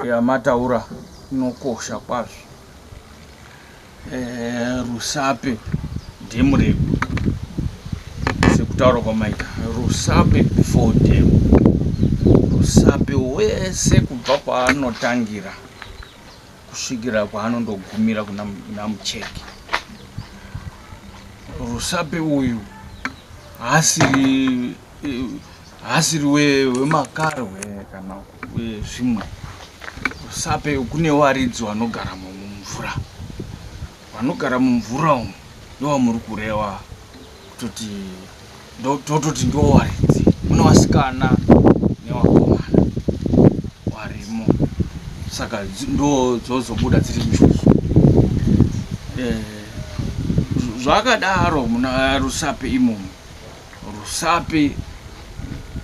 yamataura inokosha kwazvo eh, rusape dhemu redu sekutaura kwamaita rusape before dhemu rusape wese kubva kwaanotangira kusvikira kwaanondogumira kuna namucheki rusape uyu haasiri haasiri wemakarwe kana wezvimwe rusape kune waridzi vanogara mumvura vanogara mumvura umu ndovamuri kureva kutoti ndototi ndowaridzi mune wasikana newakomana warimo saka ndo dzozobuda dziri njuzu eh, zvakadaro muna rusape imomo rusape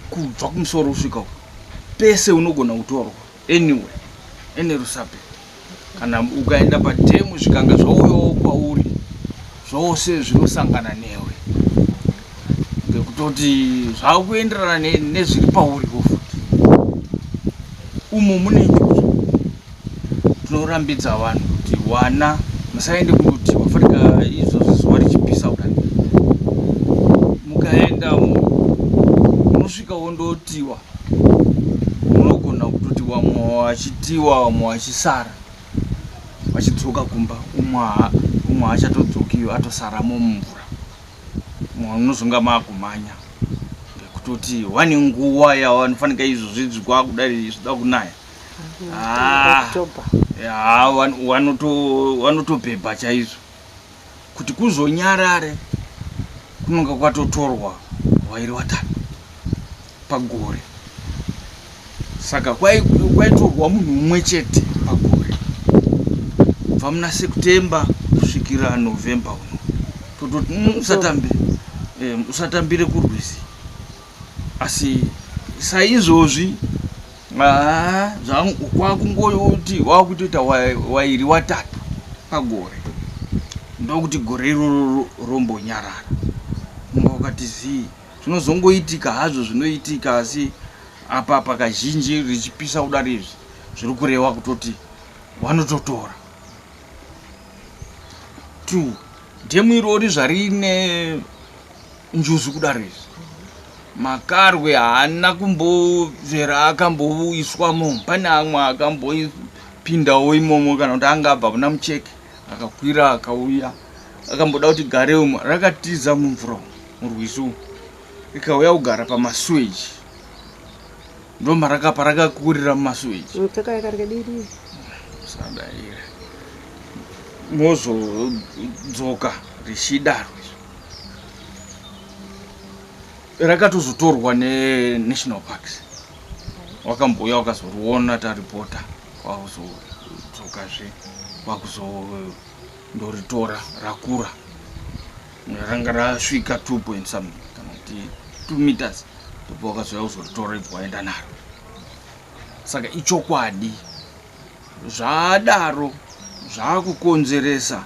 kubva kumusoro kusvika pese unogona kutorwa Anyway, ene rusape kana ukaenda padhemu zvikanga zvauyawo kwauri zvose zvinosangana newe ngekutoti zvakuenderana nezviri pauriwo futi umu mune njuzu tinorambidza vanhu kuti wana musaende kunoti wafanika izvozvo zuva richipisa kudai mukaenda munosvika wondotiwa unogona kutoti wamwe wachitiwa wamwe wachisara vachidzoka kumba umwe achatodzokiyo atosaramo mumvura mwana unozonga maakumhanya ngekutoti wane nguva yavanofanika izvozvi zvikwakudai zvida kunaya ah, wanotobhebha chaizvo kuti kuzonyarare kunonga kwatotorwa wairi watatu pagore saka kwaitorwa munhu umwe chete pagore kubva muna september kusvikira november uno tototi mm, usatambe eh, usatambire kurwizi asi saizvozvi haa zvangu kwakungoyoti wakutoita wairi watatu pagore ndokuti gore iroro rombonyarara mumba wakati zii zvinozongoitika hazvo zvinoitika asi apa pakazhinji richipisa kudari izvi zviri kureva kutoti vanototora two dhemu irori zvarine njuzu kudaro izvi makarwe haana kumbozvera akamboiswa mo pane amwe akambopindawo imomo kana kuti anga abva kuna mucheke akakwira akauya akamboda kuti gare umo rakatiza mumvura murwizi umu rikauya kugara pamasuweji ndomarakapa rakakurira mumasuweji sadaire mozodzoka richidaro rakatozotorwa nenational parks wakambouya wakazoriona taripota kwakuzodzokazve kwakuzondoritora rakura ranga rasvika 2 point something kana kuti 2 meters ndipo wakazouya kuzoritora ibva waenda naro saka ichokwadi Zvaadaro zvaakukonzeresa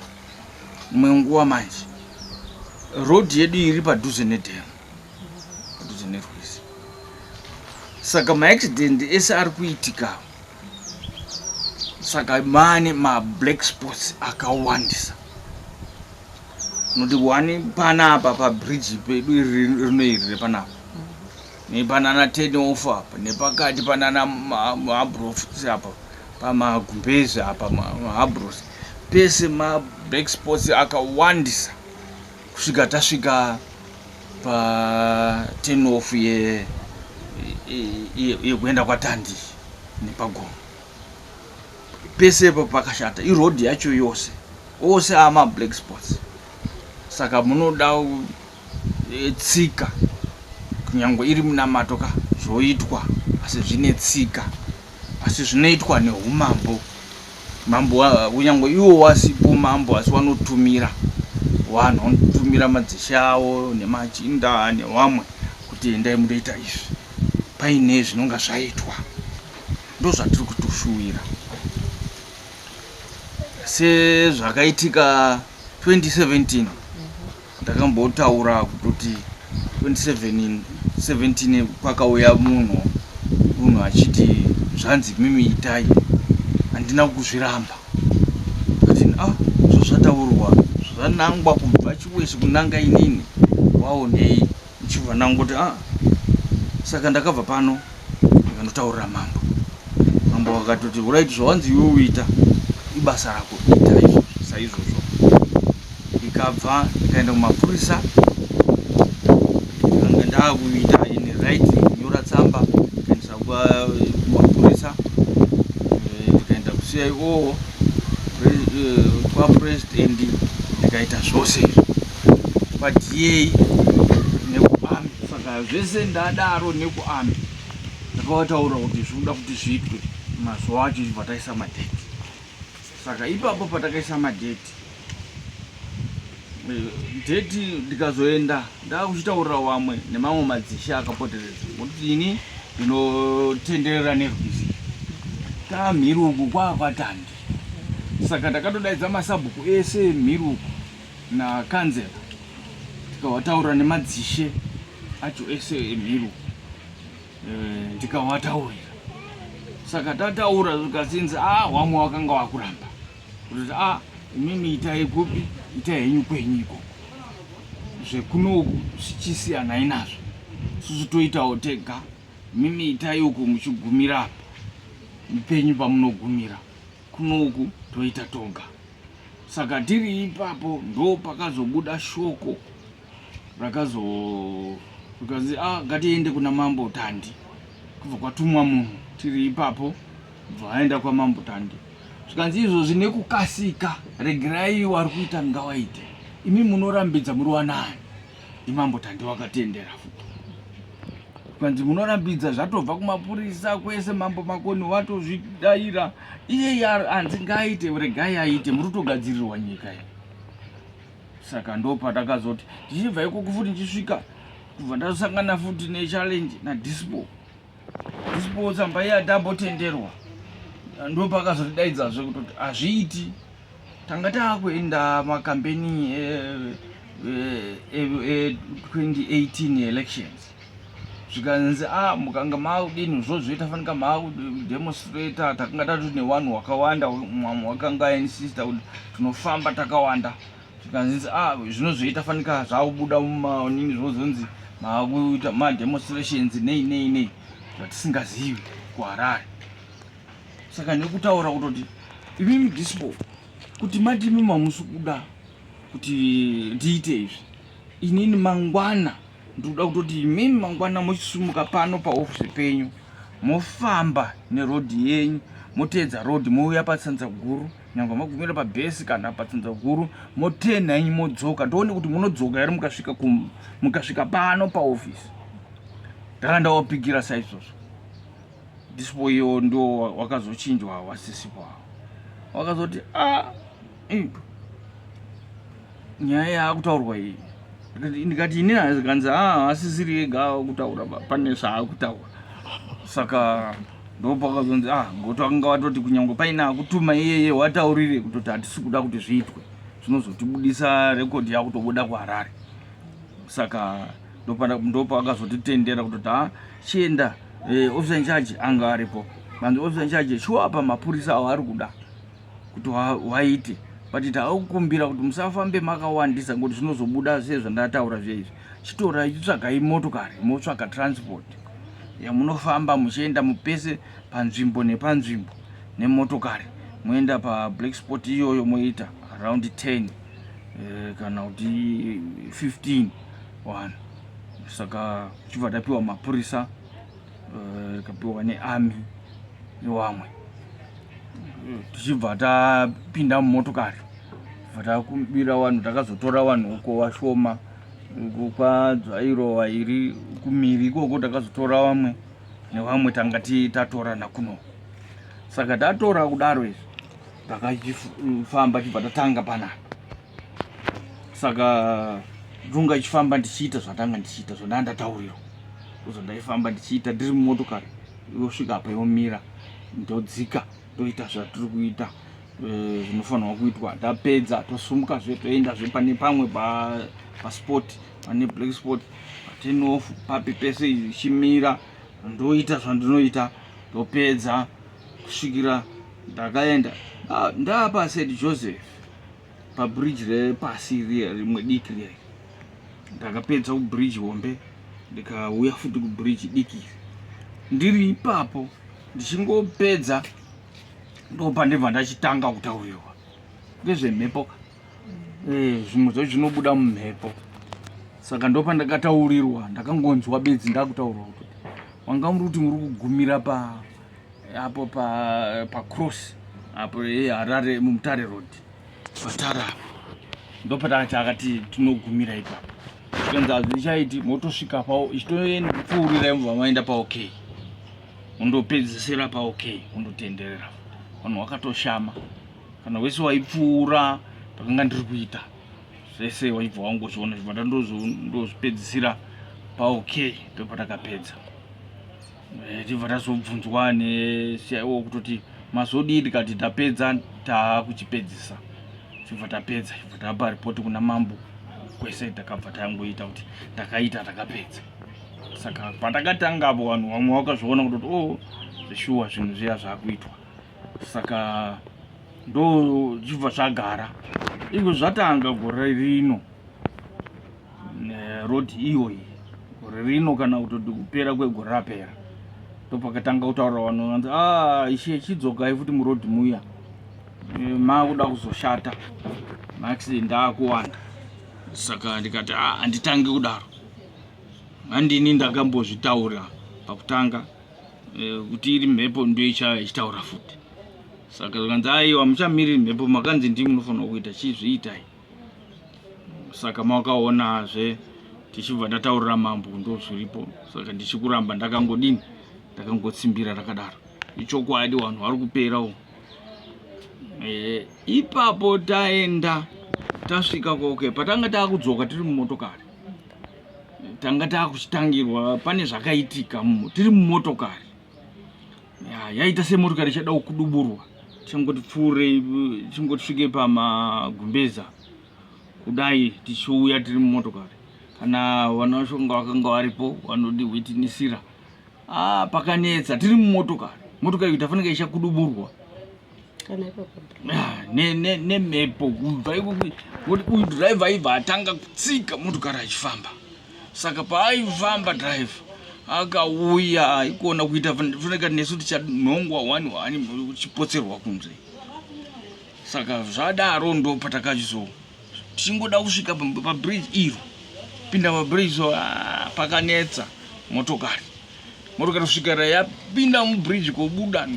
imwe nguva manje road yedu iri padhuze nedam padhuze nerwizi saka maaccident ese ari kuitika saka mane mablack sports akawandisa noti wani panapa pabridge pedu iri rino iri repanapa nepanana Tenofa nepakati panana Mabros apa pamagumbezi apa Mabros pese mablack sports akawandisa kusvika tasvika patenof yekuenda kwatandi nepagomo pese ipo pakashata iroad yacho yose ose amablack sports saka munoda etsika kunyange iri munamato ka zvoitwa asi zvine tsika asi zvinoitwa neumambo mambo kunyange iwo wasipo mambo asi wanotumira vanhu vanotumira madzishe avo nemachinda nevamwe kuti endai munoita izvi paine zvinonga zvaitwa ndozvatiri kutoshuwira sezvakaitika 2017 ndakambotaura kutoti 27 17 kwakauya munhu munhu achiti zvanzi mimi itai handina kuzviramba atin a ah, zvazvataurwa zvanangwa kubva chiwese kunanga inini waonei Ndichibva ndangoti ah saka ndakabva pano ndikanotaurira mambo mambo vakatoti urit zvawanzi iwe uita ibasa rako ita izvozvo saizvozvo ndikabva ndikaenda kumapurisa ndikanga ndaakuita ini right kunyora tsamba ndikaendesa kumapurisa eh, ndikaenda kusiya iwowo kwapresident ndikaita zvose izvo kwadiei nekuami saka zvese ndadaro nekuami ndakavataura kuti zvikuda kuti zviitwe mazuva acho ichibva taisa madheti saka ipapo patakaisa madheti eh, dheti ndikazoenda ndaakuchitaurira wamwe nemamwe madzishe akapoteredza ngokuti ini ndinotenderera nerwizi kamhiri uku kwaakwatandi saka ndakatodaidza masabhuku ese mhiri uku nakanzera tikawataura nemadzishe acho ese emhiru eh, ndikawataurira saka tataura zvikazinzi a ah, wamwe wakanga wakuramba kutoti a ah, imimi itai kupi itai henyu kwenyu ikoko zvekunoku zvichisiyanai nazvo susu toitawo tega mimi itai uku muchigumira apa mupenyu pamunogumira Kunoku toita toga. Saka tiri ipapo ndo pakazobuda shoko rakazo rikazi ah, ngatiende kuna mambo Tandi. Kubva kwatumwa munhu tiri ipapo bva aenda kwamambo Tandi. Zvikanzi izvozvi nekukasika regerai wari kuita ngawaite. Imi munorambidza muri wanani? Imambo Tande wakatendera futi kwanzi munorambidza zvatobva kumapurisa kwese mambo makoni watozvidaira iyeye hanzi ngaaite regai aite muri kutogadzirirwa nyika iyi saka ndopatakazoti tichibva ikoko futi ndichisvika kubva ndazosangana futi nechallenge nadispo Isipo tsamba iya tambotenderwa ndopakazotidaidzazve kutoti hazviiti tanga taakuenda makambeni e2018 elections zvikanzi a ah, mukanga maakudini zvozvoita fanika maakudemonstrata takanga tatoti newanhu wakawanda mwamwe wakanga ainsister kuti tinofamba takawanda zvikanzi ah zvinozoita fanika zvakubuda mumaonini zvinozonzi makuita mademonstrations nei nei nei zvatisingazivi kuharare saka nekutaura kutoti imimi dispo kuti mati imi mamusi kuda kuti ndiite izvi inini mangwana ndikuda kutoti imimi mangwana mochisumuka pano paofisi penyu mofamba nerodhi yenyu moteedza rodhi mouya patsanza guru nyangwe magumira pabhesi kana patsinza huru motenha inyi modzoka ndoone kuti munodzoka here mukasvika mukasvika pano paofisi ndanga ndawapigira saizvozvo ndisipo iyo ndo wakazochinjwa wasisipo awo wakazoti a ah, nyaya yaakutaurwa iyi ndikati ini hanzi ah, asisiri ega akutaura pane zvaakutaura saka ndopakazonzi ah ngoto akanga watoti kunyange paine akutuma iyeye wataurire kutoti hatisi kuda kuti zviitwe zvinozotibudisa rekodhi yakutobuda kuharare saka ndopakazotitendera kutoti ha ah, chienda eh, officer incharge anga aripo manzi officer incharge shuwa apa mapurisa awo ari kuda kuti waite but taakukumbira kuti musafambe makawandisa ngokuti zvinozobuda sezvandataura zveizvi chitorai chitsvagai motokari motsvaka transport yamunofamba muchienda mupese panzvimbo nepanzvimbo nemotokari moenda pablack spot iyoyo moita around 10 eh, kana kuti 15 one saka tichibva tapiwa mapurisa eh, kapiwa nearmy newamwe tichibva tapinda mumotokari bva takubira vanhu takazotora vanhu uko vashoma uko kwadzvairova iri kumiri ikoko takazotora vamwe nevamwe tanga tatorana kuno saka tatora kudaro izvi takachifamba chibva tatanga panapa saka ndunga ichifamba ndichiita zvatanga ndichiita zvondaa ndataurira uzo ndaifamba ndichiita ndiri mumotokari yosvika apa yomira ndodzika toita zvatiri kuita eh, zvinofanirwa kuitwa tapedza tosumuka zve toenda zve pane pamwe paspot pane black spot patenof papi pese izvi chimira ndoita zvandinoita topedza kusvikira ndakaenda ah, ndapa said joseph pabridge repasi riya rimwe diki riya ndakapedza kubridge hombe ndikauya futi kubridge diki iri ndiri ipapo ndichingopedza ndopa ndibva ndachitanga kutaurirwa ndezvemhepo eh, zvimwe zvacho zvinobuda mumhepo saka ndopa ndakataurirwa ndakangonzwa bedzi ndakutaurwa kuti wanga muri kuti muri kugumira pa apo pa pa cross apo ye Harare mumutare road patara ndopatanga chakati tinogumira ipapo zvikanzi hazvichaiti motosvika pao ichitoenda kupfuurira mva maenda pa okay undopedzisira pa okay undotenderera vanhu wakatoshama kana wese waipfuura pakanga ndiri kuita zvese waibva wangu zviona zvimata ndozvipedzisira pa okay ndopatakapedza Eh, tibva tazobvunzwa nesiyaiwo kutoti mazodii tikati tapedza taakuchipedzisa tibva tapedza ibva tapa ripoti kuna mambo kwese takabva tangoita kuti takaita takapedza saka patakatanga apo vanhu vamwe vakazviona kutoti o oh, zveshuwa zvinhu zviya zvakuitwa saka ndo zvibva zvagara izvo zvatanga gore rino road iyoyi gore rino kana kutoti kupera kwegore rapera ndopakatanga kutaura vanhu vanzi ah, ishe chidzokai futi muroad muya eh, makuda kuzoshata maaccident akuwanda saka ndikati ah, handitangi kudaro handini ndakambozvitaura pakutanga eh, kuti iri mhepo ndoichaya ichitaura futi saka zvikanzi aiwa muchamiriri mhepo makanzi ndimi munofanira kuita chizviitai saka mawakaonazve tichibva ndataurira mambo ndozviripo saka ndichikuramba ndakangodini ndakangotsimbira rakadaro ichokwadi vanhu vari kupera u e, ipapo taenda tasvika koke patanga taakudzoka tiri mumotokari tanga taakuchitangirwa pane zvakaitika tiri mumotokari yaita semotokari ichada kuduburwa tichangoti pfuurei tichingoti svike pamagumbeza kudai tichiuya tiri mumotokari kana vana vacho vanga vakanga varipo vanodihwitinisira ah, pakanetsa tiri mumotokari motokari kuti afanike ichakuduburwa kana ipapo ah, nemhepo kubva ikuti uyu driver aibva atanga kutsika motokari achifamba saka paaifamba driver akauya aikuona kuita funeka nesu tichanhongwa wani wani uchipotserwa kunze saka zvadaro ndo patakachizo tichingoda kusvika pabridge iro pinda pabridge so ah, pakanetsa motokari motokari kusvikira yapinda mubridge kobuda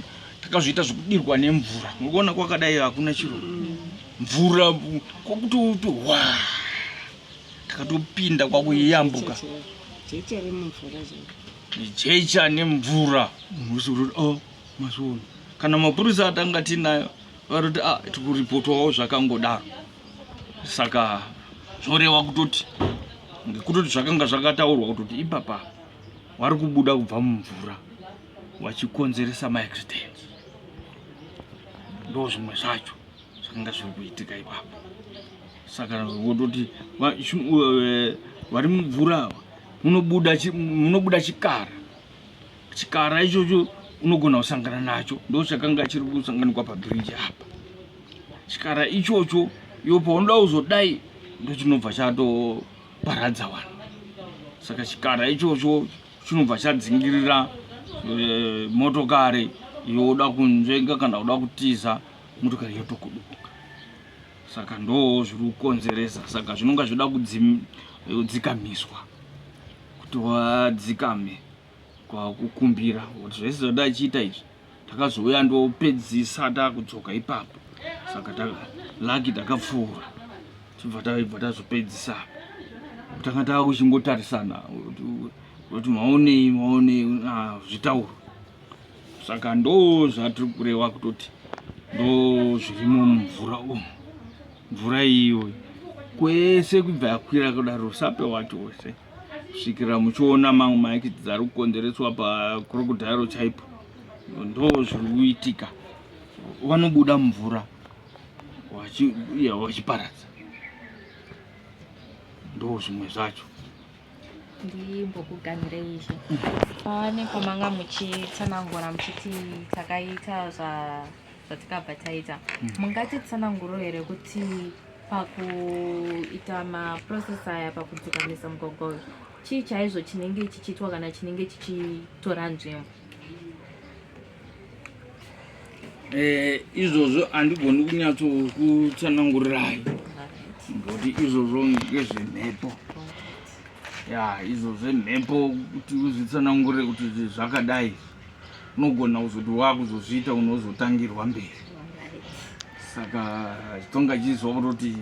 takazviita zvekudirwa nemvura mukuona kwakadai hakuna chiro mvura kwakuti uti wa takatopinda kwakuyambuka jecha nemvura musoroti o oh, masono kana mapurisa atanga tinayo varoti a ah, tikuripotwawo zvakangodaro saka zvoreva kutoti ngekutoti zvakanga zvakataurwa kutoti ipapa vari kubuda kubva mumvura vachikonzeresa maaccidents ndo zvimwe zvacho zvakanga zviri kuitika ipapo saka vototi eh, vari mumvura ava munobuda chikara chikara ichocho unogona kusangana nacho ndo chakanga chiri kusanganikwa pabiriji apa chikara ichocho iyo paunoda kuzodai ndochinobva chato paradza vanhu saka chikara ichocho chinobva chadzingirira e, motokari yoda kunzvenga kana kuda kutiza motokari yotokuduka saka ndoo zviri kukonzeresa saka zvinonga zvoda kudzikamiswa kuti wadzikame kwakukumbira kuti zvese zvada achiita izvi takazouya ndopedzisa takudzoka ipapo saka laki takapfuura tibva taibva tazopedzisa tanga tava kuchingotarisana kuti maonei maonei ah, zvitauro saka ndo zvatiri kureva kutoti ndo zvirimo mumvura umu mvura iyo kwese kubva yakwira kudaro usape wati wose kusvikira muchiona mamwe maekiti ari kukonzereswa pakrokodhairo chaipo ndo zviri kuitika vanobuda mumvura vachiparadza ndo zvimwe zvacho ndimbokuganhirei izvi pane kwamanga muchitsanangura muchiti takaita zvatikabva taita mm. mungati tsananguro here kuti pakuita maprocess aya pakudzikamisa mugogwa uyu chii chaizvo chinenge chichiitwa kana chinenge chichitora nzvimbo Eh, izvozvo handigoni kunyatsokutsanangurirai ngoti izvozvo ngezvemhepo ya izvo zvemhepo kuti uzvitsanangure kuti zvakadai unogona kuzoti wakuzozviita unozotangirwa mberi saka chitonga chizwa kutoti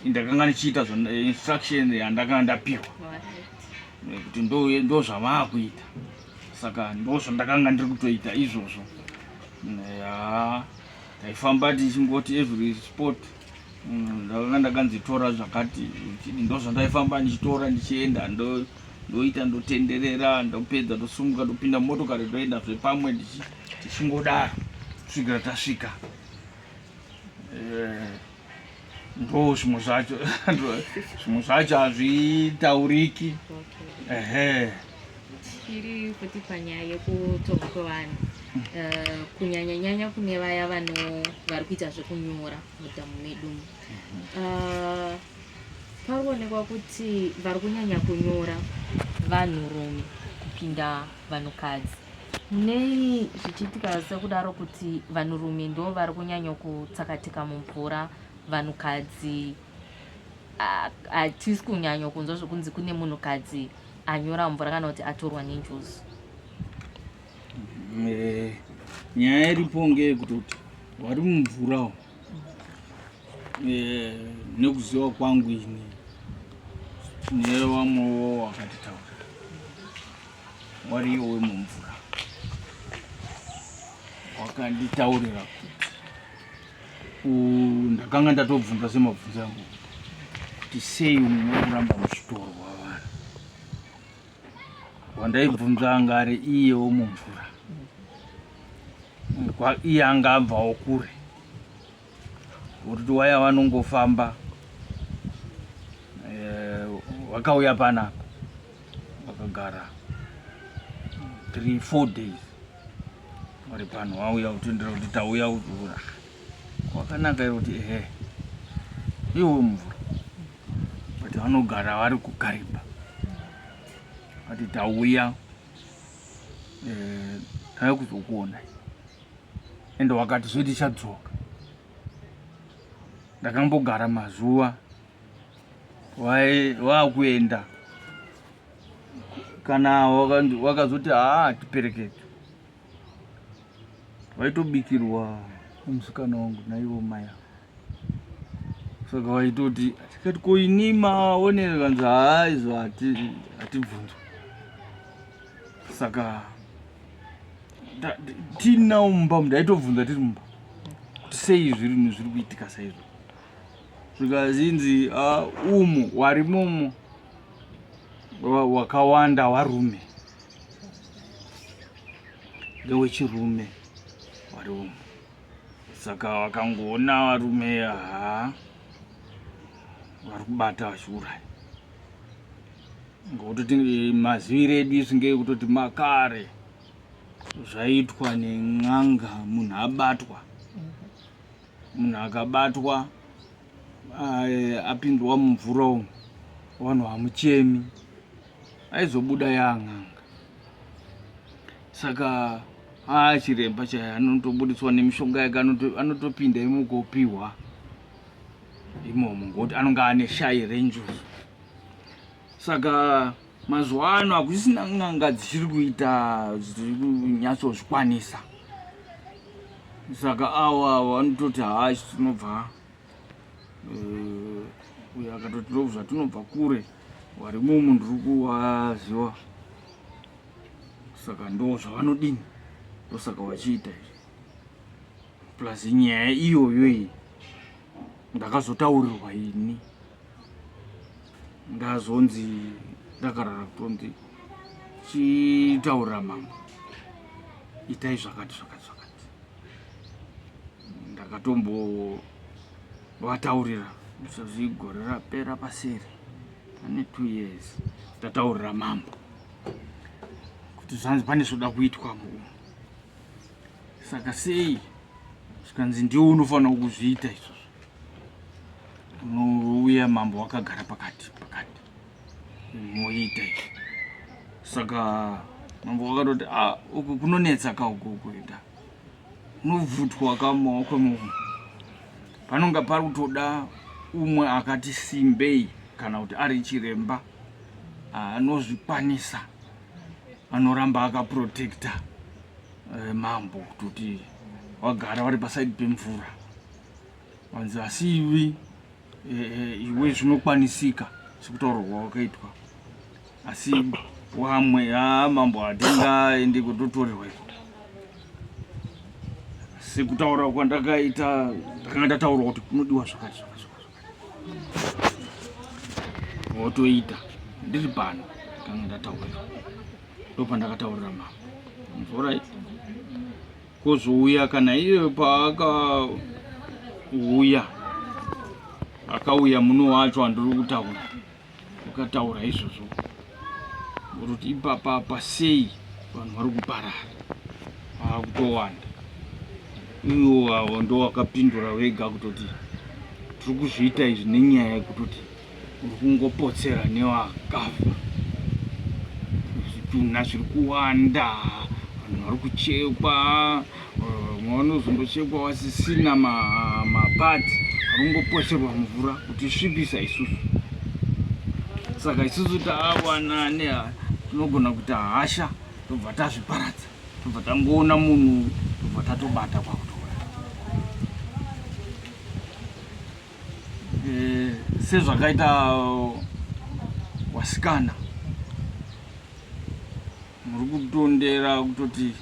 ndakanga ndichiita instruction yandakanga ndapiwa kuti ndozvamaakuita saka ndozvandakanga ndiri kutoita izvozvo ya taifamba tichingoti every sport mm, ndakanga ndakanzitora zvakati chidi ndozvandaifamba ndichitora ndichienda ndo ndoita ndotenderera ndopedza ndosumuka ndopinda motokari ndoenda zvepamwe tichingodaro kusvikira tasvika eh, ndo zvimwe zvacho zvimwe zvacho hazvitauriki ehe tiri futi panyaya yekutonga kwevanhu eh, kunyanya nyanya kune vaya vano vari kuita zvekunyora mudhamu medu eh, pari kuonekwa kuti vari kunyanya kunyora vanhurume kupinda vanhukadzi Nei zvichiitika sekudaro kuti vanhurume ndo vari kunyanya kutsakatika mumvura vanhukadzi hatisi kunyanya kunzwa zvekunzi kune munhukadzi anyora mvura kana kuti atorwa nenjuzu eh, nyaya iripo ngeyekuti kuti vari mumvurawo eh, nekuziva kwangu ini nevamwewo wakatitaura wariyo wemumvura wakanditaurira kuti ndakanga ndatobvunza semabvunzo angu kuti sei umwe kuramba muchitorwa vanhu wandaibvunza anga ari iye womumvura iye anga abvawo kure Uriti waya vanongofamba eh, wakauya pana wakagara 3 4 days vari pano wauya utendera kuti tauya uura wakanaka iro kuti ehe iwo mvura kuti vanogara vari kukariba ati tauya eh, tave kuzokuonai and wakati zve tichadzoka ndakambogara mazuva waakuenda kana wakazoti haa tiperekete waitobikirwa musikana wangu naivo maya saka waitoti tikati ko ini maonere kanzi haa izvo hatibvunzwa saka tinawo mumba umu ndaitobvunza tiri mumba kuti sei zviri zviri kuitika saizvo zvikazinzi ah, umu warimomo wakawanda warume ndewechirume wari umu saka wakangoona varume haa vari kubata vachiuraya ngokutoti maziviro edu isu ngeekutoti makare zvaitwa nen'anga munhu abatwa munhu akabatwa eh, apindwa mumvura umu vanhu hamuchemi aizobuda yaan'anga saka haa chiremba chaye anotobudiswa nemishonga yake anotopinda imokopiwa imomo ngokuti anonga ane shayi renjuzu saka mazuva ano hakusisina n'anga dzichiri kuita dziri kunyatsozvikwanisa saka awa vanototi haa isu tinobva eh, uyo akatoti ndobva tinobva kure wari mumu ndiri kuwaziwa saka ndo zvavanodini ndosaka vachiita izvi plus nyaya iyoyo iyi ndakazotaurirwa ini ndazonzi ndakarara kutonzi chitaurira mambo itai zvakati zvakati zvakati ndakatombovataurira zvezvi gore rapera paseri pane two years ndataurira mambo kuti zvanzi pane zvoda kuitwa mumu saka sei zvikanzi ndiwo unofanira kuzviita izvozvo Unouya mambo wakagara pakati pakati moita izvi saka mambo wakatoti ah, uku kunonetsa ka uku kuenda unobvutwa ka mumaoko emunhu panonga pari kutoda umwe akati simbei kana kuti ari chiremba ah, anozvikwanisa anoramba akaprotecta eh, mambo kutoti wagara vari pasaidi pemvura Wanzi asi iwe eh, iwe zvinokwanisika sekutaurwa wakaitwa asi wamwe ha mambo hatingaende kutotorerwa iko sekutaura kwandakaita ndakanga ndataurwa kuti kunodiwa zvakati zvakati wotoita ndiri pano ndakanga ndataura iko ndopandakataurira mambo mvura kozouya kana iye paakauya akauya muno wacho andiri kutaura ukataura izvozvo kuti ipapa apa sei vanhu vari kuparara akutowanda iwo avo ndowakapindura wega kutoti tiri kuzviita izvi nenyaya yekutoti uri kungopotsera newakafa zvitunha zviri kuwanda vanhu vari kuchekwa vamwe eh, vanozongochekwa vasisina mapati vari kungopotserwa mvura kuti svipisa isusu saka isusu taawana ne tinogona kuita hasha tobva tazviparadza tobva tangoona munhu tobva tatobata kwakuti eh, sezvakaita wasikana muri kutondera kutoti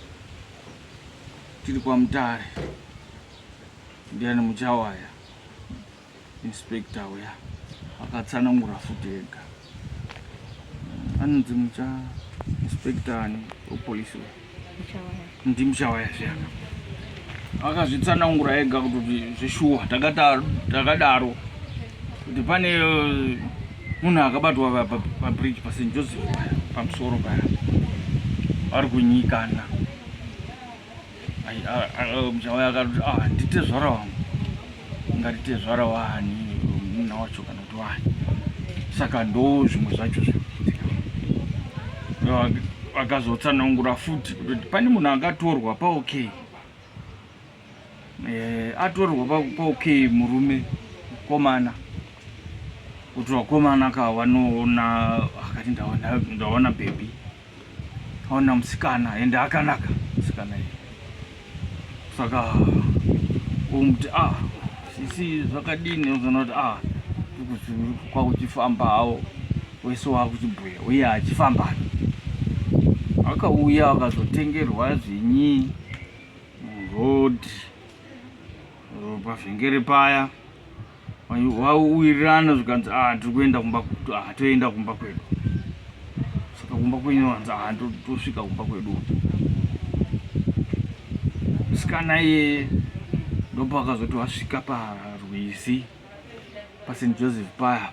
tiri kwamutare ndiani muchawaya inspector uya akatsanangura futi ega anonzi mucha inspector ani wepolice ndimuchawaya zviyaka akazvitsanangura ega kuti zvishuwa takadaro kuti pane eh, munhu akabatwa pabridge paSt Joseph pamusoro paya vari kunyikana mjawaya akati ah, nditezvara wangu ngatitezvara wani munha wacho kana kuti wani saka ndo zvimwe zvacho zvakazotsanangura futi kutoti pane munhu akatorwa paok e, eh, atorwa paok e murume komana kuti vakomana ka vanoona akati ndaona bhebhi Ona musikana ende akanaka musikana iyi saka umuti ah sisi zvakadini uzoona kuti ah kwakuchifamba hawo wese wakuchibhuya uye achifamba akauya akazotengerwa zvinyi road pavhengere paya wauwirirana zvikanzi ah tiri kuenda kumba ah toenda kumba kwedu saka kumba kwenyu wanzi ah tosvika kumba kwedu musikana iye ndopakazoti wasvika parwizi pasin joseph paya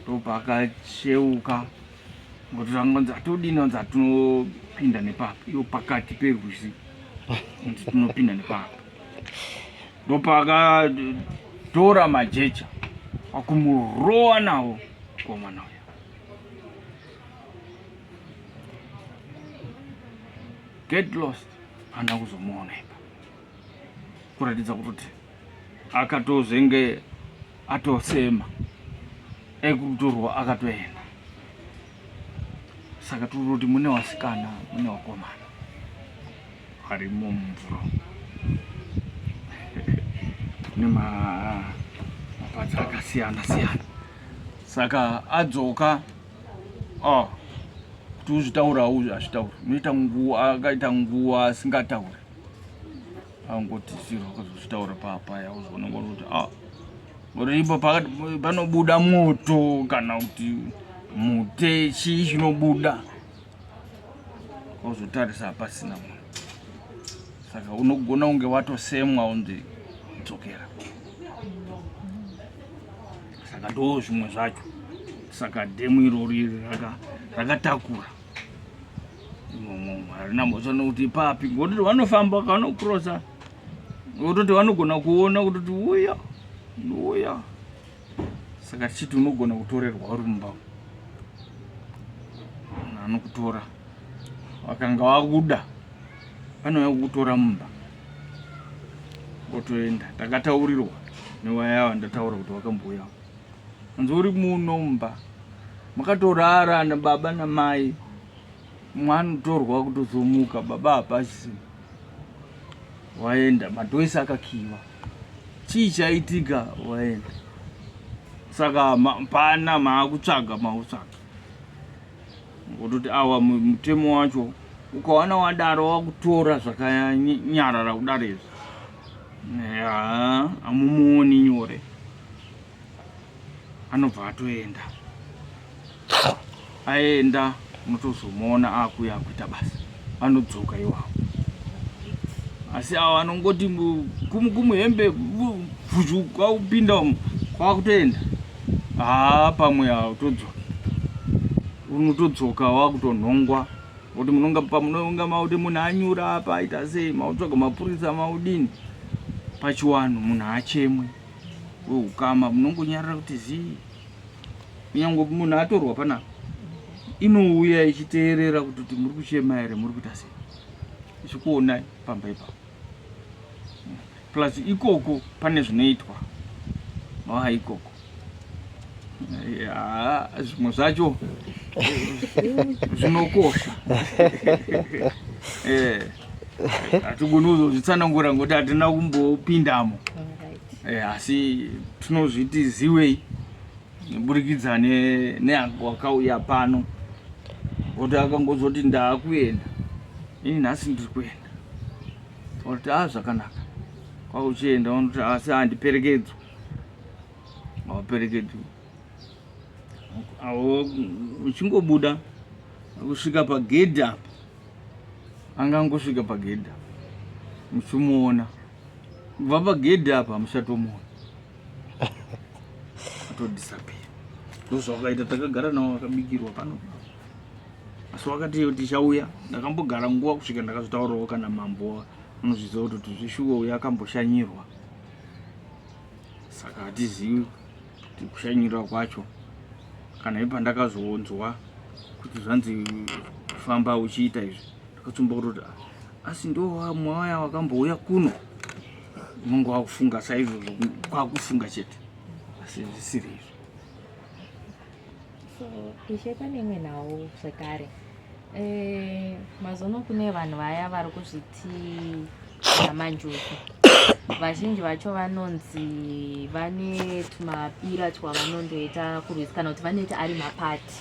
ndopakacheuka ngokuti angonzi atodini anzi atinopinda nepapa iyo pakati perwizi kuti tinopinda nepapa ndopakatora majecha akumurowa nawo komana uya get lost hana kuzomuona ipa kuratidza kutoti akatozenge atosema ekutorwa akatoenda saka tiri kuti mune wasikana mune wakomana varimo mumvura kune mapazi akasiyana siyana saka adzoka oh, kuti uzvitaurawo azvitauri unoita nguva akaita nguva asingatauri angoti zvirwa kuzvitaura papaya uzvona ngori kuti a ah, ngori ipo panobuda moto kana kuti mute chii chinobuda ozotarisa hapasina munhu saka unogona kunge watosemwa unzi dzokera saka ndoo zvimwe zvacho saka dhemu irori rakatakura raka harina mhosva nokuti ipapi ngototi vanofamba kanokrosa ngototi vanogona kuona kutoti uya nouya saka tichiti unogona kutorerwa uri mumba anokutora vakanga vakuda vanouya kukutora mumba otoenda takataurirwa newaya yava ndataura kuti vakambouyawo Hanzi uri muno mumba makatorara na baba na mai mwana utorwa kutozomuka baba hapasi waenda madoisi akakiwa chii chaitika waenda saka ma, pana maakutsvaga maakutsvaga ngototi awa mutemo wacho ukawana wadaro wakutora zvakanyarara kudaro izvi amumuoni nyore anobva atoenda aenda unotozomuona akuya akuita basa anodzoka iwawo asi awo anongoti kumukumu hembe vhuzhu kwaupinda umu kwakutoenda haa pamwe autodzoka unotodzoka wakutonhongwa kuti munonga pamunonga mauti munhu anyura apa aita sei mautsvaga mapurisa maudini pachiwanhu munhu achemwe wehukama munongonyarira kuti zii nyangwe munhu atorwa panapa inouya ichiteerera kuti kuti muri kuchema here muri kuita sei ichikuonai pamba ipapo plus ikoko pane zvinoitwa aa ikoko zvimwe zvacho zvinokosha eh. hatigoni kuzozvitsanangura ngokuti hatina kumbopindamo eh, asi tinozviti ziwei neburikidza neangu wakauya pano oti akangozoti ndaakuenda ini nhasi ndiri kuenda oti a ah, zvakanaka kwauchienda unoti asi handiperekedzwa hawaperekedzwi uchingobuda kusvika pagedhi apa anga angosvika pagedhi apa muchimuona kubva pagedhi apa hamuchatomuona atodisapia ndozvawakaita takagara nawo wakabikirwa pano asi wakati iyo tichauya ndakambogara nguva kusvika ndakazotaurawo kana mambo anozviziva kuti tizvishuwa uya akamboshanyirwa saka hatizivi kuti kushanyirwa kwacho kana ipa ndakazoonzwa kuti zvanzi famba uchiita izvi ndakatsumba kutoti ah, asi ndomwaya wakambouya kuno unonge wakufunga saizvozvo kwakufunga chete asi zvisiri izvo so ishe pane imwe nhau zvekare eh, mazono kune vanhu vaya vari kuzviti amanjuku vazhinji vacho vanonzi vane tumapira twavanondoita kurwisa kana kuti vanoita ari mapati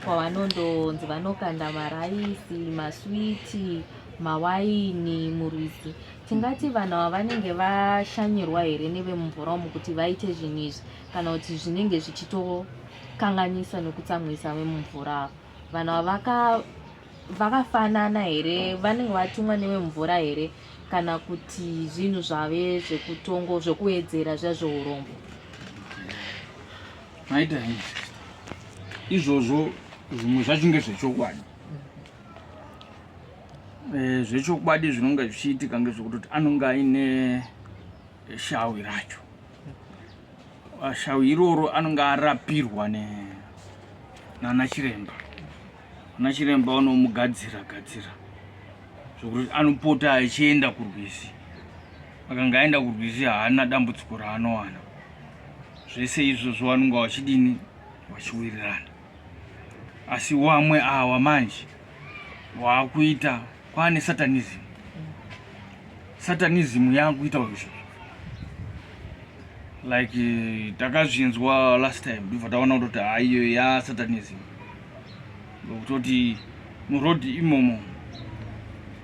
kwavanondonzi vanokanda maraisi maswiti mawaini murwizi tingati vanhu ava vanenge vashanyirwa here nevemumvura umu kuti vaite zvinhu izvi kana kuti zvinenge zvichitokanganisa nekutsamwisa vemumvura ava vanhu avaka vakafanana here vanenge vatumwa nevemumvura here kana kuti zvinhu zvave zvekutongo zvekuwedzera zviya zveurombo maita izvozvo zvimwe zvachinge zvechokwadi eh, zvechokwadi zvinonge zvichiitika ngezvekutoti anonge aine shawi racho Shau iroro anonge arapirwa ne nana chiremba. Ana chiremba vanomugadzira gadzira zvokuti anopota achienda kurwizi. Akanga aenda kurwizi haana dambudziko raanowana. Zvese izvozvo vanonga vachidini vachiwirirana. asi wamwe awa manje waakuita kwaane satanism satanism yaakuita izvo like eh, takazvinzwa last time ndibva taona kutoti aiyo ya satanism kutoti muroad imomo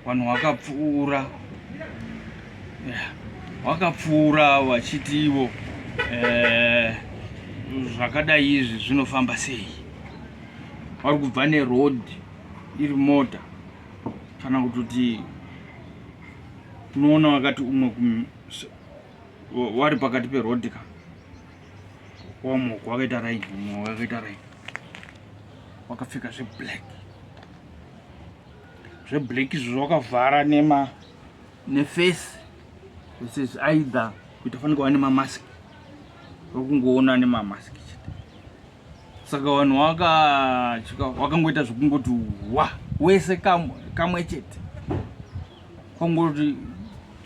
vanhu vakapfuura vakapfuura yeah. vachiti ivo eh, zvakadai izvi zvinofamba sei vari kubva neroad iri mota kana kutoti unoona wakati umwe wari pakati peroad ka wamwe wakaita raini umwe wakaita raini wakapfeka zveblack zveblack izvo zvawakavhara nema neface uses aidha kuti afanike wa nemamask wakungoona nemamask chete saka vanhu wakangoita zvekungoti wa wese kamwe chete kwangoti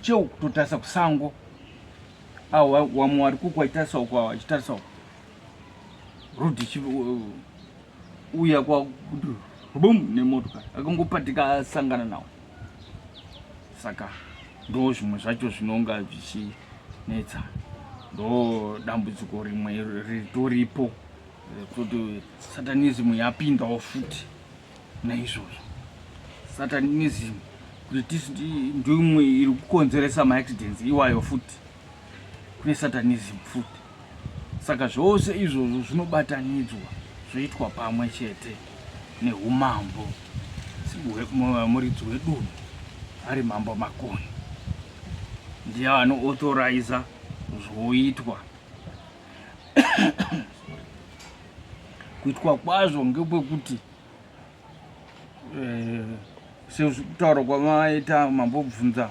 cheu kutotarisa kusango awa wamwe wari kukwaitarisawo kwawa achitarisa uku road ichiuya kwakuti bum nemotokari akangopatika asangana nawo saka ndo zvimwe zvacho zvinonga zvichinetsa ndo dambudziko rimwe ritoripo kuti satanism yapindawo futi naizvozvo satanism kuti ndimwe iri kukonzeresa maaccidents iwayo futi kune satanism futi saka zvose izvozvo zvinobatanidzwa zvoitwa pamwe chete neumambo muridzi wedunhu ari mambo makoni ndiye anoauthoriza zvoitwa kuitwa kwazvo ngekwekuti eh, sekutaura kwamaita mambobvunza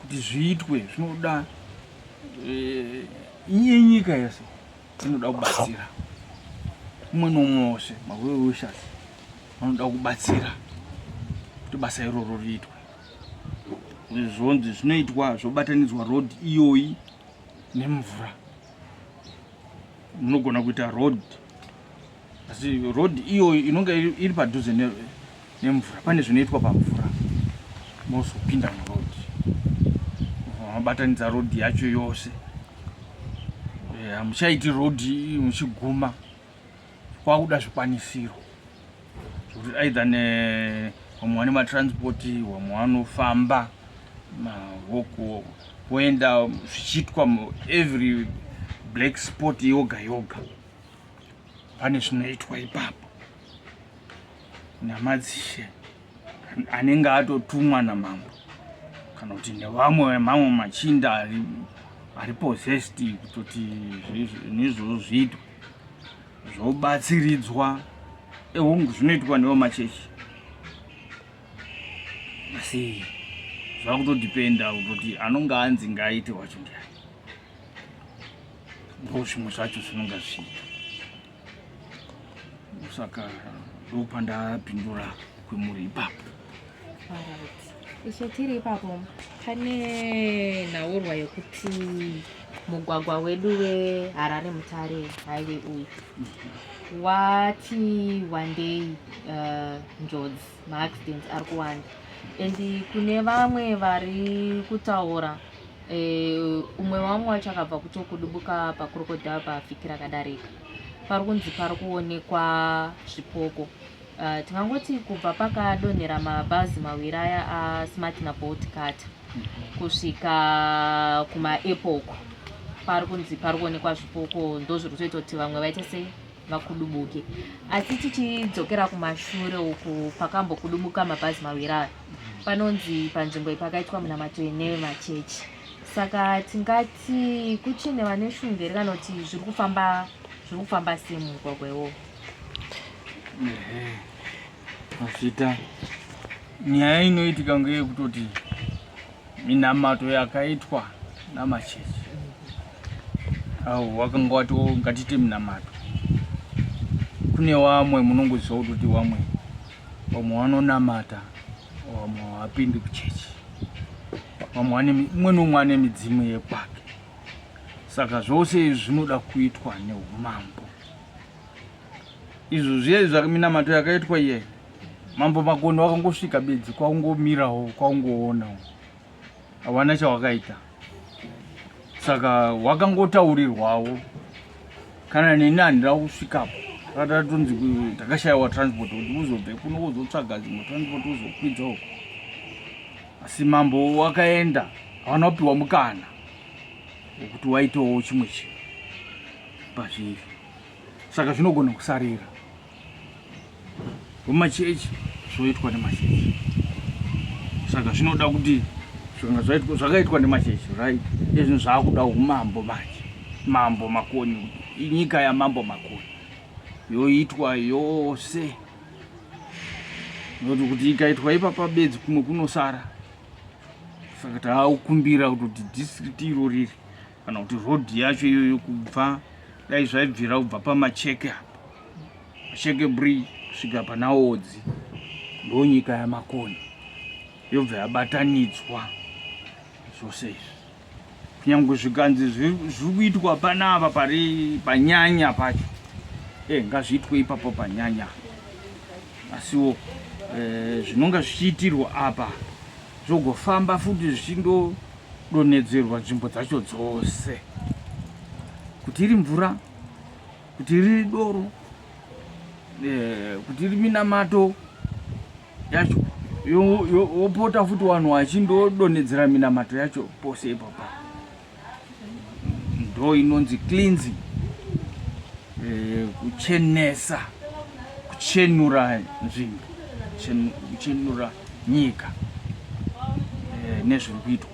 kuti zviitwe zvinoda eh, iye nyika yese inoda kubatsira umwe nomwe wose maweoshas vanoda kubatsira kuti basa iroro riitwe zvonzi zvinoitwa zvobatanidzwa road iyoyi nemvura munogona kuita road asi road iyoyi inonge iri padhuze nemvura pane zvinoitwa pamvura mozopinda muroad mabatanidza road yacho yose eh, hamuchaiti road muchiguma kwakuda zvikwanisiro zvekuti aidha vamwe vane matransport vamwe vanofamba mavoko voenda zvichiitwa every black sport yoga yoga pane zvinoitwa ipapo namadzishe anenge atotumwa namambo kana kuti nevamwe vemamwe machinda ari ari possessed kutoti nezvoo zviitwa zvobatsiridzwa ehungu zvinoitwa nevo machechi asi zvava kutodipenda kutoti anonge anzi ngaaite wacho ndiani ndo zvimwe zvacho zvinonga zviita saka ndopandapindura kwemuri ipapo ishe tiri ipapo pane nhaurwa yekuti mugwagwa wedu weharare mutare haive uyu wati wandei uh, njodzi maaccidents ari kuwanda and kune vamwe vari kutaura Eh, umwe wamwe wacho akabva kutokudubuka pakrokodhava paafikira akadarika pari kunzi pari kuonekwa zvipoko uh, tingangoti kubva pakadonhera mabhazi mawiri aya asmart nabolt carter kusvika kumaepoko pari kunzi pari kuonekwa zvipoko ndo zviri kutoita kuti vamwe vaite sei vakudubuke asi tichidzokera kumashure uku pakambokudubuka mabhazi mawiri aya panonzi panzvimbo iyi pakaitwa munamato ine machechi saka tingati kuchine vane shungu here kana kuti zviri kufamba zviri kufamba sei mumugwagwa iwowo azvita nyaya inoitika ngeyekutoti minamato yakaitwa namachechi au wakanga wati ngatiite minamato kune wamwe munongoziva kutoti wamwe vamwe vanonamata vamwe havapindi kuchechi vamwe vane umwe neumwe ane midzimu yekwake saka zvose izvi zvinoda kuitwa neumambo izvo zviye zvaminamato yakaitwa iye mambo makoni wakangosvika bedzi kwaungomirawo kwaungoonawo hawana chawakaita saka wakangotaurirwawo kana neni handira kusvikapo ratatonzi takashayiwa transport kuti uzobve kuno wozotsvaga dzimwe transport uzokwidza uko asi mambo wakaenda hawana kupiwa mukana wekuti waitawo chimwe chinhu pazviri saka zvinogona kusarira kumachechi zvoitwa nemachechi saka zvinoda kuti zvakaitwa nemachechi right ezvinhu zvaakuda umambo manje mambo makoni inyika yamambo makoni yoitwa yose noti kuti ikaitwa ipapa bedzi kumwe kunosara saka taakukumbira kuti district iro riri kana kuti road yacho iyoyo kubva dai zvaibvira kubva pamacheke apa macheke bridge kusvika pana odzi ndo nyika yamakoni yobva yabatanidzwa zvose izvi kunyange zvikanzi zviri kuitwa panapa pari panyanya pacho e eh, ngazviitwe ipapo panyanya asiwo e, zvinonga zvichiitirwa apa zvogofamba futi zvichindo donhedzerwa nzvimbo dzacho dzose kuti iri mvura kuti riri doro eh, kuti iri minamato yacho wopota futi vanhu vachindodonhedzera minamato yacho pose ipapa ndo inonzi cleansing eh, kuchenesa kuchenura nzvimbo kuchenura nyika eh, nezviri kuitwa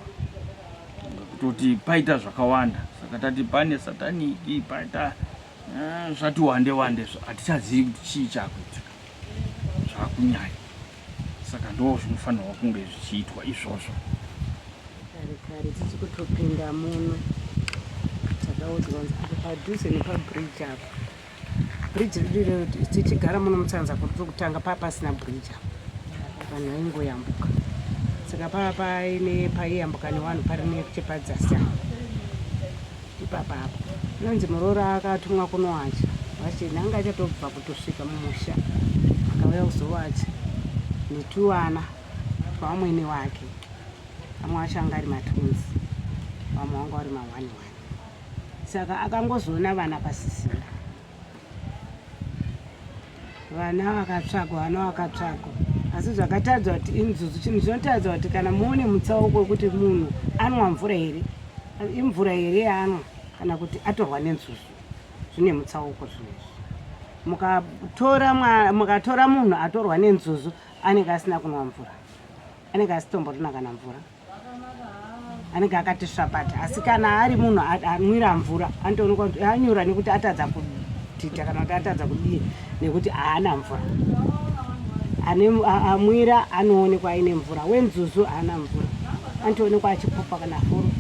kutoti paita zvakawanda saka tati pane sataniki paita eh, zvati wande wande hatichazivi kuti chii chakuitika zvakunyanya saka ndo zvinofanirwa kunge zvichiitwa izvozvo kare kare tisi kutopinda muno takaudzwa padhuze nepabridge apa Bridge redu irero tichigara muno mutsanza kuti tiri kutanga paa pasina bridge apa vanhu vaingoyambuka saka paa paine paiyambuka nevanhu pari nechepadzasi apa ipapa apa inonzi muroora akatumwa kunowacha vacheni anga achatobva kutosvika mumusha akauya kuzowacha netuwana twamwene wake vamwe vacho anga ari matunzi vamwe vanga vari mawani wani saka akangozoona vana pasisina vana vakatsvagwa vana vakatsvagwa asi zvakatadzwa kuti inzuzu chinhu chinotadzwa kuti kana muone mutsauko wekuti munhu anwa mvura here imvura here yaanwa kana kuti atorwa nenzuzu zvine mutsauko zvinezvi mukatora mukatora munhu atorwa nenzuzu anenge asina kunwa mvura anenge asitomborina kana mvura anenge akati svapati asi kana ari munhu anwira mvura anotoonekwa kuti anyura nekuti atadza kutita kana kuti atadza kudii nekuti haana mvura amwira anoonekwa aine mvura wenzuzu haana mvura anotoonekwa achipopa kana furu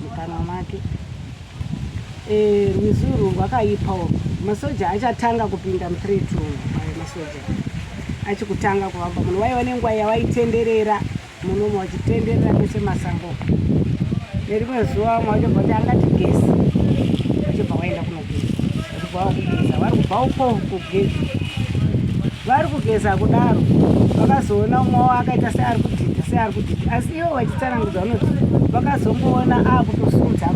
mukanwa make Eh, rwizi urwu rwakaipa urwu masoja achatanga kupinda mutreat uyu ayo masoja achikutanga kuvamba munhu waiva nenguva yavaitenderera munomo vachitenderera mese masango nerimwe zuva vamwe vachobva kuti angati gesi vachobva waenda kunogesa kubvawo kugeza vari kubvawo ko kugeza vari kugeza kudaro vakazoona umwe wavo akaita seari kudhidha seari kudhidha asi ivo vachitsanangudza vanoti vakazongoona akutosunza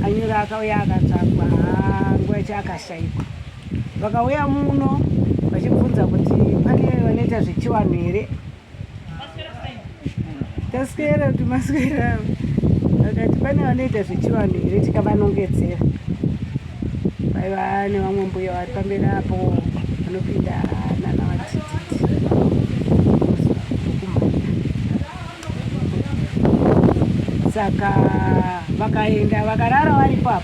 anyura akauya akatsvakwa nguva yacho akashaikwa vakauya muno vachibvunza kuti pane vanoita zvechiwanhu here taswera kuti maswera avo vakati pane vanoita zvechivanhu here tikavanongedzera vaiva nevamwe mbuya vari pamberi apo vanopinda nana vatititi saka vakaenda vakarara varipo apo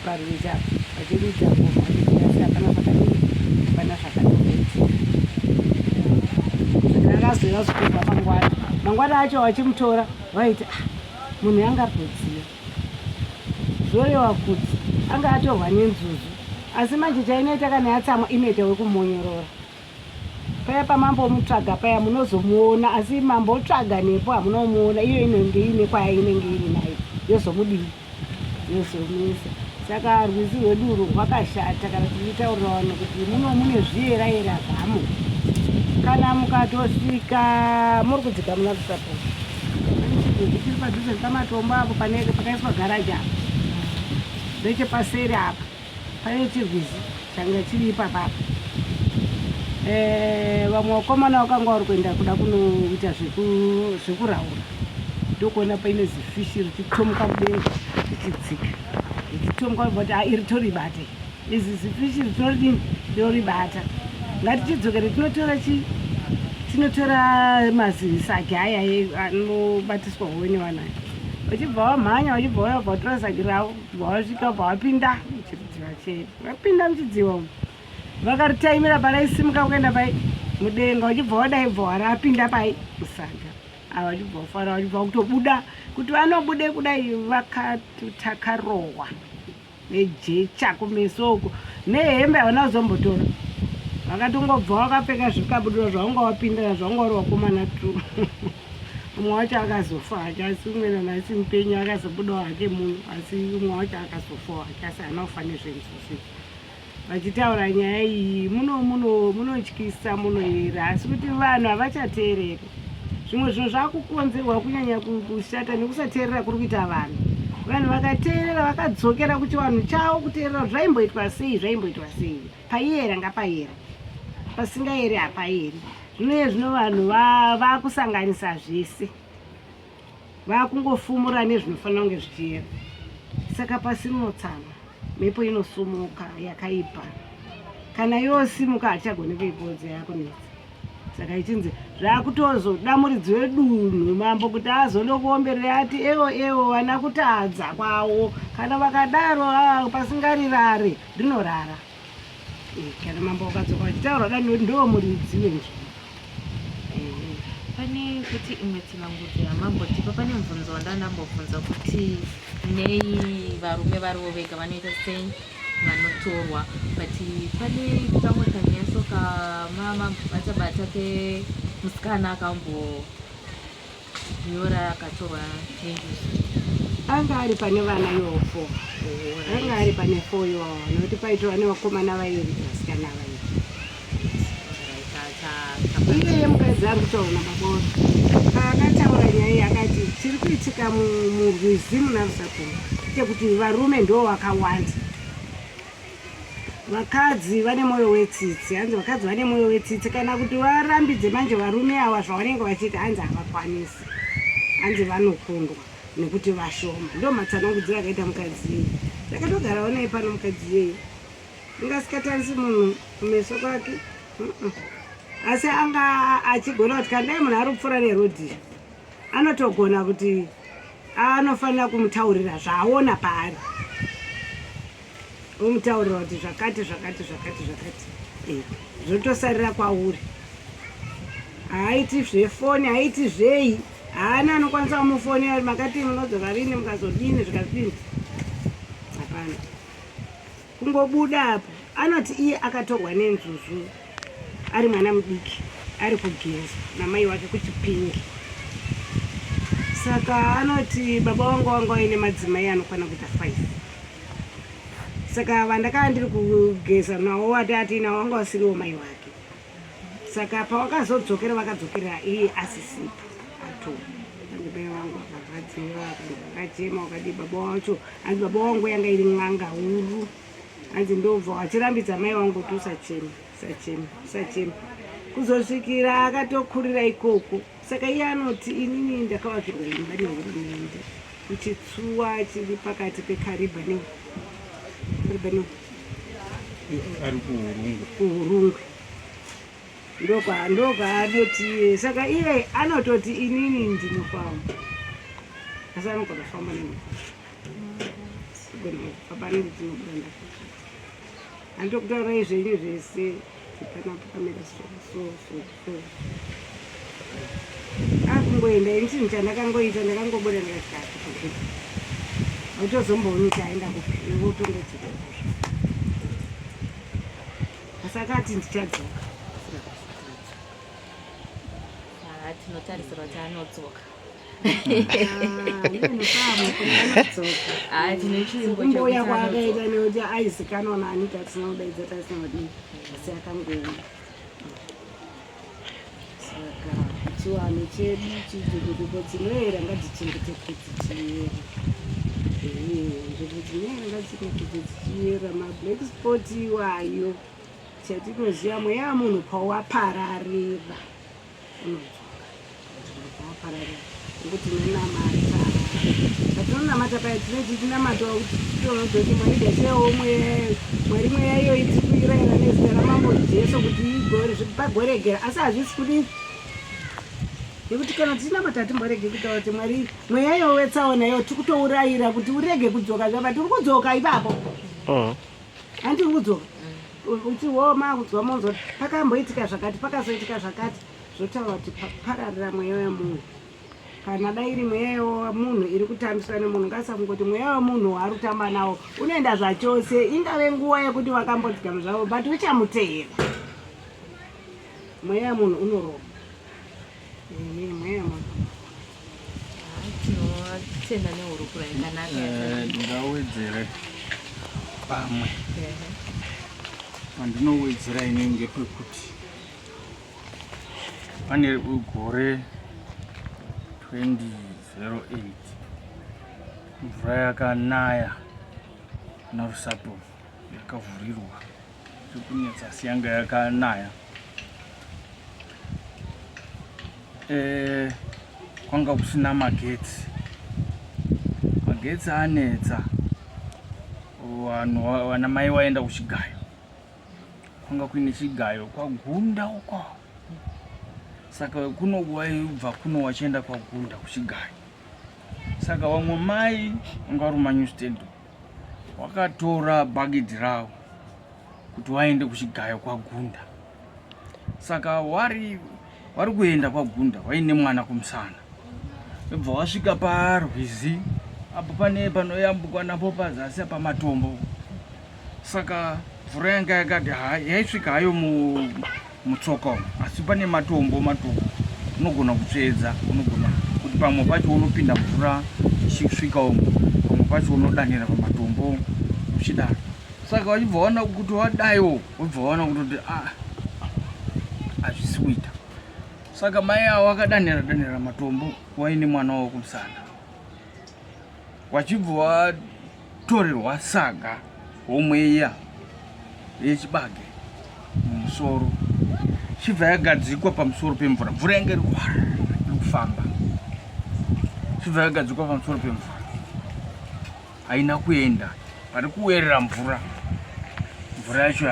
parwizi apo Ndakadurudza ngoma yangu asi hapana pakadii, hapana zvakatoitika. Ndakazouya zvekubva mangwana, mangwana acho vachimutora vaiti ah, munhu yanga arikudziya, zvoreva kuti anga atorwa nenzuzu. Asi manje chainoita kana yatsamwa inoita wekumonyorora, Paya pamambo omutsvaga paya munozomuona asi mambo otsvaga nepo hamuna umuona iyo inenge iine kwaya inenge iri nayo yozomudii yozomisa saka rwizi rwedu urwu rwakashata kana tichitaurira vanhu kuti muno mune zviyera yera zvamo kana mukatosvika muri kudzika muna kusapo zvichiri padhuze nepamatombo apo pakaiswa garaji apa ndechepaseri apa Pane chirwizi changa chiri ipapa apa. Eh, vamwe vakomana vakanga vari kuenda kuda kunoita zvekuraura ndokuona paine zifishi richitomuka mudenga richidzika richitomuka but ah, iri toribate izi zifishi ritoridini rinoribata ngatichidzokere tinotora chii tinotora mazisagi aya anobatiswa howe nevanayo vachibva vamhanya vachibva vaya vatora zagi ravo Wasvika pa wapinda muchidziva chete. Wapinda muchidziva umu. Vakaritaimira paraisimuka kuenda pai mudenga wachibva wadai bva wari apinda pai musaga. Ava wachibva wafara wachibva kutobuda kuti vanobude kudai vakatakarohwa nejecha kumeso uko nehembe havana kuzombotora vakatongobva wakapfeka zvikabudura zvaunga wapindana zvaunga uri wakomana tu umwe wacho akazofa hake asi umwe nanhasi mupenyu akazobudawo hake munhu asi umwe wacho akazofawo hake asi haana kufa nezvenzuzi vachitaura nyaya iyi muno muno munotyisa munoyera asi kuti vanhu havachateereri zvimwe zvinhu zvakukonzerwa kunyanya kushata nekusateerera kuri kuita vanhu vanhu vakateerera vakadzokera kuchivanhu chavo kuteerera kuti zvaimboitwa sei zvaimboitwa sei Payera ngapayere, pasingayeri hapayeri. Zvino iye zvino vanhu vakusanganisa zvese, vakungofumura nezvinofanira kunge zvichiyera. Saka pasi rinotsama, mhepo inosumuka yakaipa. Kana yosimuka hachagoni kuipodza yakunetsa. Saka ichinzi zvakutozoda muridzi wedunhu mambo kuti azono kuomberera ati ewo ewo vana kutadza kwawo. Kana vakadaro ah, pasingarirare. rinorara eh, kana mambo vakadzoka vachitaura kudai nekuti ndiwo muridzi wenzvimbo eh. pane kuti imwe tsanangudzo yamambo tipa pane mubvunzo wandandambobvunza kuti nei varume varivo vega vanoita sei vanotorwa but pane kamwe kanyaso kamama bata bata kemusikana akambo Yora akatorwa Tendisi. Anga ari pane vana iwo four. Anga ari pane four iwo nokuti paitova nevakomana vairi vasikana vairi. Iyeye mukadzi ari kutaura nababoro paakataura nyaya iyi akati chiri kuitika murwizi munarusakuno chekuti varume ndo vakawanda vakadzi vane mwoyo wetsitsi hanzi vakadzi vane mwoyo wetsitsi kana kuti varambidze manje varume awa zvavanenge vachiita hanzi havakwanisi hanzi vanokundwa nekuti vashoma ndo matsanangudziro akaita mukadzi yeyi ndakatogarawo naye pano mukadzi yeyi ndingasikatarisi munhu kumeso kwake asi anga achigona kuti kandai munhu ari kupfuura nerodhi anotogona kuti anofanira kumutaurira zvaaona paari womutaurira kuti zvakati zvakati zvakati zvakati eh, zvotosarira kwauri haaiti zvefoni haaiti zvei haana anokwanisa kumufoni ari makati munozova vine mukazodini zvikazodini hapana kungobuda apo anoti iye akatorwa nenzuzu ari mwana mudiki ari kugeza namai wake kuchipingi saka anoti baba wangu wanga waine madzimai anokwana kuita five saka vandakaa ndiri kugeza nawo wati atiinawo wanga wasiriwo mai wake saka pawakazodzokera vakadzokerera iye asisipo ato andibai wangu akarwadziwa akachema wakadii baba wacho anzi baba wangu yanga iri n'anga huru hanzi ndobva wachirambidza mai wangu kuti usachema usachema usachema kuzosvikira akatokurira ikoko saka iye anoti inini ndakavakirwa imba nehurumende kuchitsuwa chiri pakati pekariba ne kariba ne ari kuhurungwe kuhurungwe ndokwaanoti iye saka iye anototi inini ndinofamba asi anogona kufamba nemota andokutaurai zvenyu zvese panapo kamira so so so so akungoenda ini chinhu chandakangoita ndakangobuda ndikati autozombooni kuti aenda kupi wotongodzika asakati ndichadzoka tinotarisirwa kuti anodzoka mbuya kwaakaita nekuti aizikanwa nani tatisina kudaidza tatisina kudii asi akangoenda saka chiwanhu chedu chijukuduko dzinoera ngadzichengeteke dzichiera nzvimbo dzinoera ngadzichengeteke dzichiera mablack spot iwayo chatinoziva mweya munhu pawapararira kuti tinonamata patinonamata paya tinoti tinamata kuti titonodzoti mwari gasewo mweyayo mwari mweya iyoyi tiri kuirayira nezita ramambo jesu kuti igore pagoregera asi hazvisi kuti nekuti kana tichinamata hatimborege kutaura kuti mwari mweya iyoyo wetsaona iyo tiri kutourayira kuti urege kudzoka zvapa tiri kudzoka ipapo handi mm. tiri kudzoka Uti wo makudzwa monzo pakamboitika zvakati pakazoitika zvakati zvotaura kuti pararira mweya wemunhu kana dai iri mweya yemunhu iri kutambiswa nemunhu ngasamungoti mweya wemunhu waari kutamba nawo unoenda zvachose ingave nguva yekuti vakambodzikama zvavo but uchamuteera mweya wemunhu unoroba tinovatenda nehurukuro yakanaka eh, ndingawedzere pamwe pandinowedzera ini ngepekuti pane gore 2008 mvura yakanaya narusapo yakavhurirwa Zvikunetsa yanga yakanaya. Eh, kwanga kusina magetsi. Magetsi anetsa. Vanhu vana mai waenda kuchigayo. Kwanga kuine chigayo kwagunda uko. Saka kuno waibva kuno wachienda kwagunda kuchigayo. Saka vamwe mai vanga vari mumanyu stand. wakatora bhagidhi rawo kuti waende kuchigayo kwagunda saka wari wari kuenda kwagunda waine mwana kumusana ibva wasvika parwizi apo pane panoyambukwa napo pazasi pamatombo saka mvura yanga yakati yaisvika hayo mu mutsoka umu asi pane matombo matombo unogona kutsvedza unogona kuti pamwe pacho unopinda mvura ichisvika umu pamwe pacho unodanira pamatombo uchidaro saka wachibva waona kuti wadaiwo wobva waona kutoti a ah, hazvisi kuita saka mai awo akadanira danira matombo waine mwana wavo kumusana vachibva vatorerwa saga homwe iya yechibage mumusoro chibva yagadzikwa pamusoro pemvura mvura yange iri kufamba chibva yagadzikwa pamusoro pemvura haina kuenda pari kuwerera mvura mvura yacho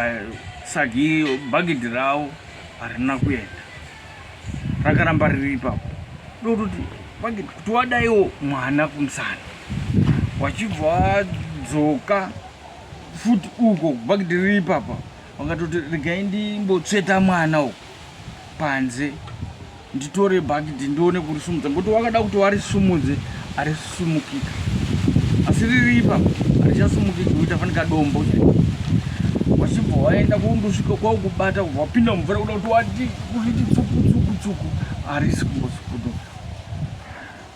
sagi bhagidhi ravo harina kuenda rakaramba riri ipapo ndokutoti vake kuti wadaiwo mwana kumusana wachibva wadzoka futi uko bhakiti riri ipapa wakatoti regai ndimbotsveta mwana uko panze nditore bhakiti ndione kurisumudza ngokuti wakada kuti warisumudze aris sumukika asi riri ipapo harichasumukiki kuita fanika dombo wachibva waenda kundosvika kwaukubata kubva wapinda mumvura kuda kuti wati kuriti tsukutsukutsuku harisi kumbotsukuto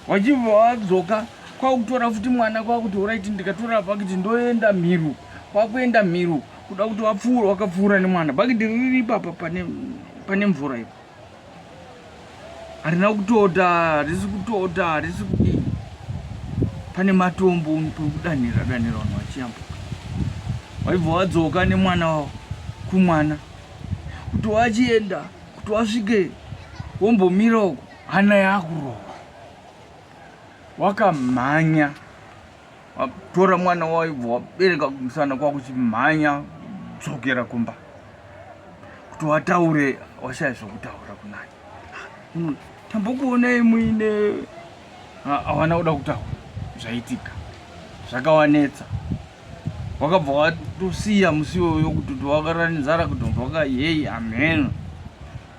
wachibva wadzoka kwakutora futi mwana kwakuti oraiti ndikatora pakiti ndoenda mhiru kwakuenda mhiru kuda kuti wapfuura wakapfuura nemwana pakiti riri ipapa pane mvura ipo harina kutota harisi kutota harisi kudii pane matombo pekudanhira danhira vanhu vachiyambuka waibva wadzoka nemwana wavo kumwana kuti wachienda kuti wasvike wombomira uko hana yakurova wakamhanya Watora mwana waibva wabereka kumusana kwakuchimhanya dzokera kumba kuti wataure washaya zvokutaura kunani hmm, tambokuonai muine hawana kuda kutaura zvaitika zvakawanetsa wakabva watosiya musi iwoyo kutoti wakaranizara kutonzwa ka yei amheno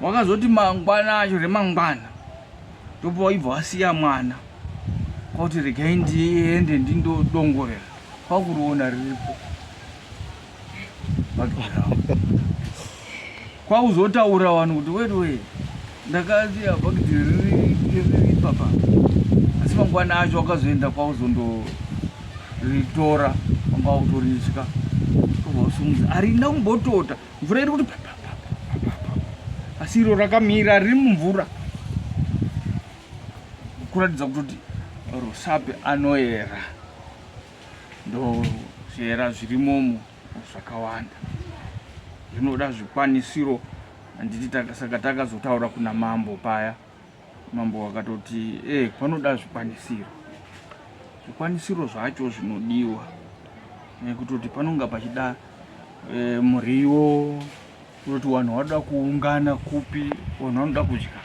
wakazoti mangwana acho remangwana ndobva waibva wasiya mwana kwakuti regai ndiende ndindodongorera kwakuriona riripo bakirawo kwakuzotaura vanhu kuti wetiwee ndakasiya bakiti riri papa asi mangwana acho wakazoenda kwakuzondoritora kwanga kutoritya kwakuzosumudza arina kumbotota mvura iri kuti asi iro rakamira riri mumvura kuratidza kutoti rusape anoera ndozviera zvirimomo zvakawanda zvinoda zvikwanisiro handiti saka takazotaura kuna mambo paya Mambo vakatoti eh, panoda zvikwanisiro zvikwanisiro zvacho zvinodiwa nekutoti panonga pachida e, muriwo kutoti vanhu vanoda kuungana kupi vanhu vanoda kudya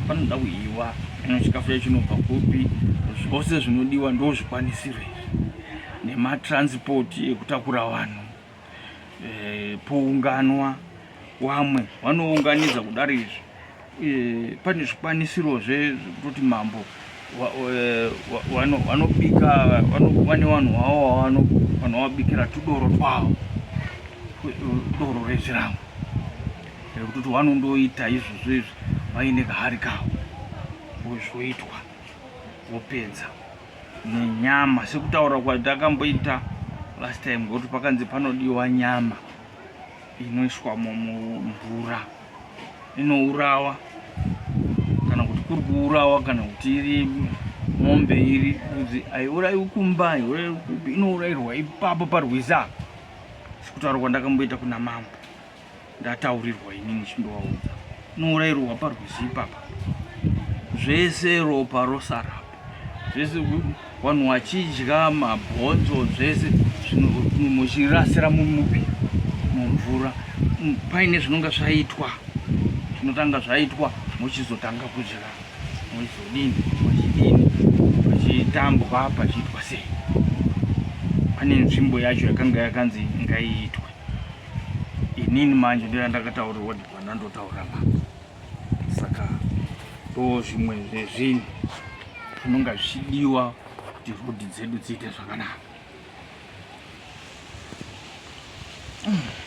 panoda kuiwa ino chikafu chacho chinobva kupi zvose zvinodiwa ndo zvikwanisiro izvi nematranspoti ekutakura vanhu eh, pounganwa wamwe vanounganidza kudari izvi eh, pane zvikwanisiro zvekutoti mambo eh, vanobika vane vanhu vavo vanovabikira tudoro twavo doro rezvirango rekutoti vanondoita izvozvo izvi vaine kahari kavo zvoitwa vopedza nenyama sekutaura kwatakamboita last time ngokuti pakanzi panodiwa nyama inoiswa mumvura inourawa kana kuti kuri kuurawa kana kuti iri mombe iri udzi haiurayiwi kumba haiurayiwi kupi inourayirwa ipapo parwizi apa sekutaura kwandakamboita kuna mambo ndataurirwa inini chindovaudza nourairwa parwizi ipapa zvese ropa rosarapo zvese vanhu vachidya mabhonzo zvese muchirasira mumupi mumvura paine zvinonga zvaitwa zvinotanga zvaitwa mochizotanga kudya moizodini machidini pachitambwa pachiitwa sei pane nzvimbo yacho yakanga yakanzi ngaiitwe inini manje ndoya ndakataurirwa ndibana ndotaura mama saka ndo zvimwe zvezvinhu zvinonga zvichidiwa kuti rodhi dzedu dziite zvakanaka